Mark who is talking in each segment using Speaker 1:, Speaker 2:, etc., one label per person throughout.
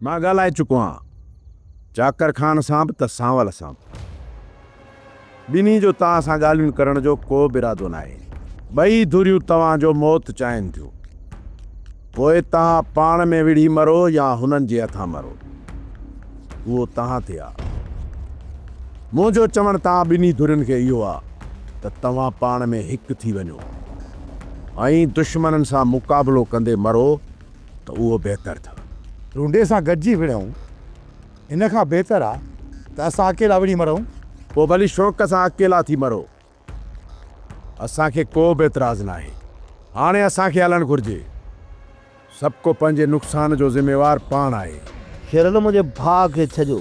Speaker 1: مان ڳالهائي چڪو آهيان چاڪر خان سان به ته سانول سان به. ٻنهي جو توهان سان ڳالهيون ڪرڻ جو ڪو به ارادو ناهي. ٻئي ڌريون توهان جو موت چاهين ٿيون. پوء توهان پاڻ ۾ وڙهي مرو يا هنن جي هٿان مرو. اهو توهان تي آهي. منهنجو چوڻ توهان ٻنهي ڌرين کي اهو آهي ته توهان پاڻ ۾ هڪ ٿي وڃو ۽ دشمنن سان مقابلو ڪندي مرو. ته اهو بهتر ٿو. رونڊي سان گڏجي
Speaker 2: وڙهون، ان کان بهتر آ ته اسان اڪيلا وڙهي مرون. پوء ڀلي شوق
Speaker 1: سان اڪيلا ٿي مرو، اسان کي ڪو به اعتراض ناهي. هاڻي اسان کي هلڻ گهرجي. سڀڪو پنهنجي نقصان جو ذميوار پاڻ آهي. شيرل منهنجي
Speaker 3: ڀاء کي ڇڏيو،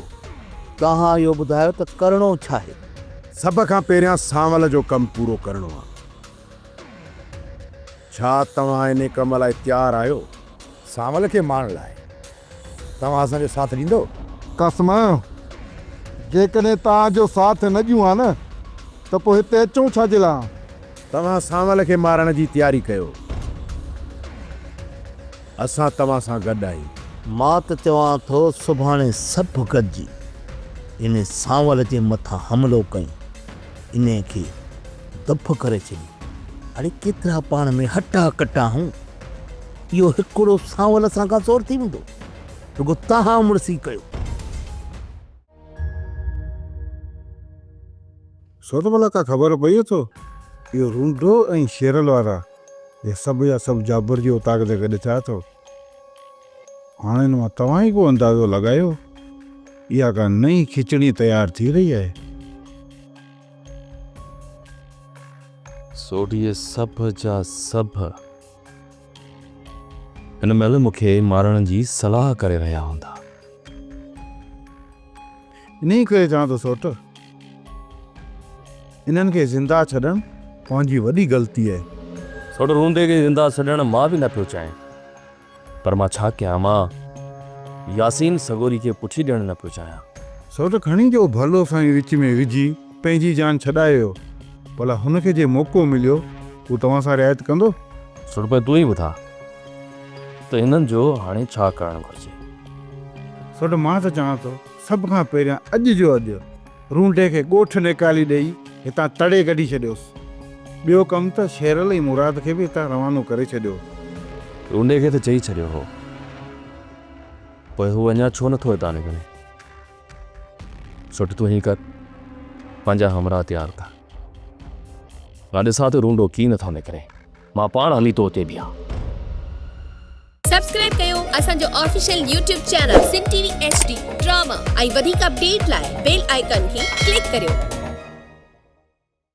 Speaker 3: توهان اهو ٻڌايو ته ڪرڻو ڇاهي؟ سڀ کان
Speaker 1: پهريان سانول جو ڪم پورو ڪرڻو آ. ڇا توهان انهي ڪم لاء تيار آهيو؟ سانول کي
Speaker 2: مارڻ لاء توهان اسان جو ساٿ ڏيندؤ؟ قسم!
Speaker 4: جيڪڏهن توهان جو ساٿ نه ڏيون ها نه ته پوء هتي اچون ڇا جي لاء ها؟ توهان سانول
Speaker 1: کي مارڻ جي تياري ڪيو، اسان توهان سان گڏ آهيون. مان ته چوان
Speaker 3: ٿو سڀاڻي سڀ گڏجي انهي سانول جي مٿان حملو ڪيون. انهيء کي دڦ ڪري ڇڏي. اڙي ڪيترا پاڻ ۾ هٽا ڪٽا آهون. اهو هڪڙو سانول اسان کان سور ٿي ويندو. رڳو تهان مڙسي ڪيو.
Speaker 4: ڇو ته ڀلا ڪا خبر پئي اٿو؟ اهو رونڊو ۽ شيرل وارا، اهي سڀ جا سڀ جابر جي اوطاق تي گڏ ٿيا اٿو. هاڻ ان مان توهان ئي ڪو اندازو لڳايو، اها ڪا نئين کچڙي تيار ٿي رهي آهي.
Speaker 5: سوڍيء سڀ جا سڀ هن مهل مون کي مارڻ جي صلاح ڪري رهيا هوندا.
Speaker 4: انهيء ڪري چوان ٿو سوٽ، انهن کي زنده ڇڏڻ پنهنجي وڏي غلطي آهي. سوٽ، روندي
Speaker 5: کي زنده ڇڏڻ مان به نه پيو چاهيان، پر مان ڇا ڪيان؟ مان ياسين سڳوري کي پٺي ڏيڻ نه پيو چاهيان. سوٽ، کڻي جو
Speaker 4: ڀلو سائين وچ ۾ وجهي. پنهنجي جان ڇڏائي ويو. ڀلا هن کي جي موقعو مليو هو توهان سان رعايت ڪندو؟ سربي تون ئي
Speaker 5: ٻڌاء ته هنن جو هاڻي ڇا ڪرڻ گهرجي؟
Speaker 4: سربي مان ته چاهان ٿو سڀ کان پهريان اڄ جو اڄ رونڊي کي ڳوٺ نيڪالي ڏيئي هتان تڙي ڪڍي ڇڏيوس. ٻيو ڪم ته شيرل ۽ مراد کي به هتان روانو ڪري ڇڏيو. رونڊي
Speaker 5: کي ته چئي ڇڏيو هو پوء هو اڃا ڇو نٿو هتان نڪري؟ سٺ تون هين ڪر پنهنجا همراهه تيار ڪر مان ڏسان ٿو رونڊو ڪي نٿو نڪري مان پاڻ هلي تو اتي بيهان. سبسڪرائب
Speaker 6: ڪيو اسان جو official YouTube channel Sindh T V H D drama ۽ وڌيڪ اپڊيٽ لاء بيل آئيڪان کي ڪلڪ ڪريو.